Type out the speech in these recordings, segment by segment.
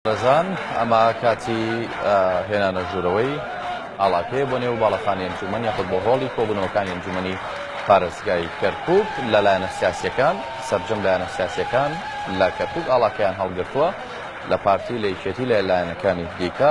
بەڕێزان ئەمە کاتی هێنانە ژوورەوەی ئاڵاکەیە بۆ نێو باڵەخانی ئەنجومەن یاخود بۆ هۆڵی کۆبوونەوەکانی ئەنجومەنی پارێزگای کەرکوک لە لایەنە سیاسیەکان سرجەم لایەنە سیاسیەکان لە کەرکک ئاڵاکەیان هەڵگرتووە لە پارتی لە یکێتی لە لایەنەکانی دیکە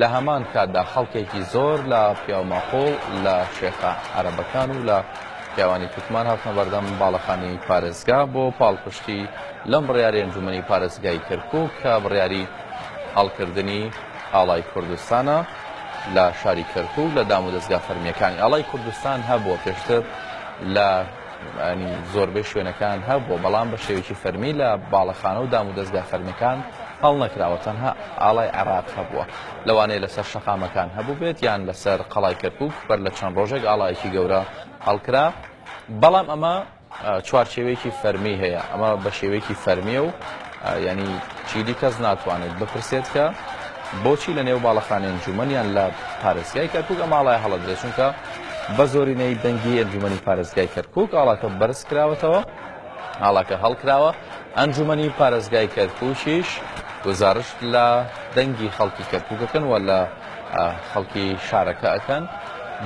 لە هەمان کاتدا خەڵکێکی زۆر لە پیاوماقووڵ، لە شێخە عەرەبەکان و لە پیاوانی تورکمان هاتنە بەردەم باڵەخانەی پارێزگا بۆ پاڵپشتی لەم بڕیارەی ئەنجوومەنی پارێزگای کەرکووک کە بڕیاری هەڵکردنی ئاڵای کوردستانە لە شاری کەرکووک لە دامودەزگا فەرمییەکانی ئاڵای کوردستان هەبووە پێشتر لە انی زۆربەی شوێنەکان هەبووە بەڵام بە شێوێکی فەرمی لە باڵەخانە و دام و دەستگا فەرمیەکان هەڵنەکراوە تەنها ئاڵای عێراق هەبووە لەوانەیە لەسەر شەقامەکان هەبوو بێت یان لەسەر قەڵای کەرکک بەر لە چەند ڕۆژێک ئاڵایەکی گەورە هەڵکرا بەڵام ئەمە چوارچێوێکی فەرمی هەیە ئەمە بە شێوەیەکی فەرمیە و یانی چیدی کەس ناتوانێت بپرسێت کە بۆچی لە نێو باڵەخانەی ئەنجومەن یان لە پارێزگای کەرکوک ئەم ئاڵایە هەڵەدرێت چونکە بە زۆرینەی دەنگی ئەنجومەنی پارێزگای کەرکوک ئاڵاکە بەرز کراوەتەوە ئاڵاکە هەڵکراوە ئەنجومەنی پارێزگای کەرکوکیش گزارش لە دەنگی خەڵکی کەرکوکەکەن و لە خەڵکی شارەکە ئەکەن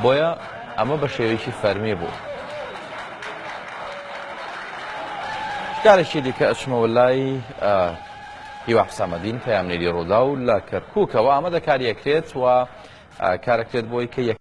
بۆیە ئەمە بە شێوەیەکی فەرمی بوو. جارێکی دیکە ئەچمەوە لای هیوا حسامەدین پەیامنێری ڕووداو لە کەرکووکەوە ئامادەکاری ئەکرێت و کارەکرێت بۆی کە یەک